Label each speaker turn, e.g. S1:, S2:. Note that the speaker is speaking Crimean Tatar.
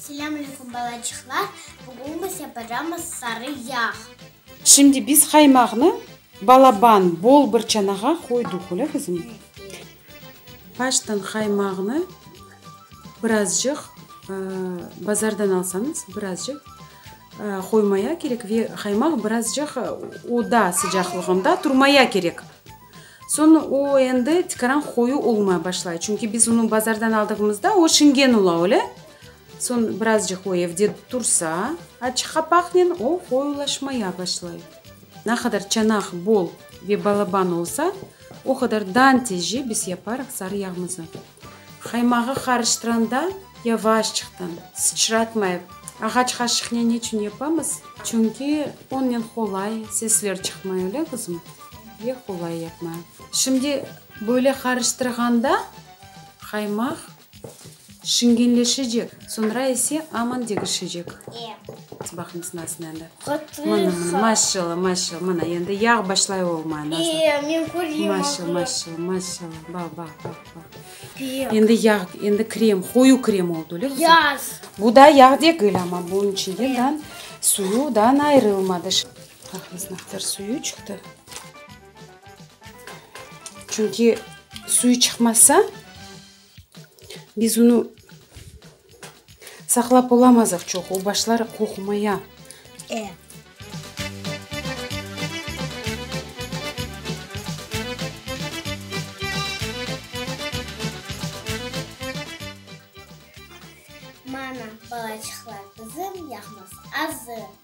S1: Selâm aleyküm balacıqlar, bugün bize programmız Sarı yağ. Şimdi biz
S2: qaymaqnı balaban, bol bir çanağa qoydıq, öyle qızım? Baştan qaymaqnı birazcıq bazardan alsañız, birazcıq. Qoymaya kerek ve qaymaq birazcıq oda sıcaqlığında turmaya kerek. Soñ o endi tikaran qoyu olmay başlay. Çünki biz onı bazardan aldığımızda o şingen ola, öyle? Soñ birazcıq o evde tursa, açıq qapaqnen o qoyulaşmaya başlay. Ne qadar çanaq bol ve balaban olsa, o qadar dan tezce biz yaparıq sarı yağmızı. Qaymağı qarıştıranda yavaş çıqtın, sıçratmayıp, ağaç qaşıqnen neçün yapamız? Çünki onnen qolay sesler çıqmay, öyle qızım? Ve qolay yapma. Şimdi böyle qarıştırğanda qaymaq şingenleşecek, soñra ise aman degişecek. Baqıñ, sınasın endi. Mına, maşallah, maşallah, mına, endi yağ başlay olma, Nazar. Maşallah, maşallah, maşallah, bax, bax, bax, bax. Endi yağ, endi krem, qoyu krem oldu, öyle qızım? Bu da yağ degil, amma bunun içinde dan, suyudan ayrılmadı. Bax, Nazar, suyu çıqtı. Çünki suyu çıqmasa, Biz unı saqlap olamazıq çoq, o başlar qoqmaya. E. Mana, balaçıqlar,
S1: qızım, yahmaz azı.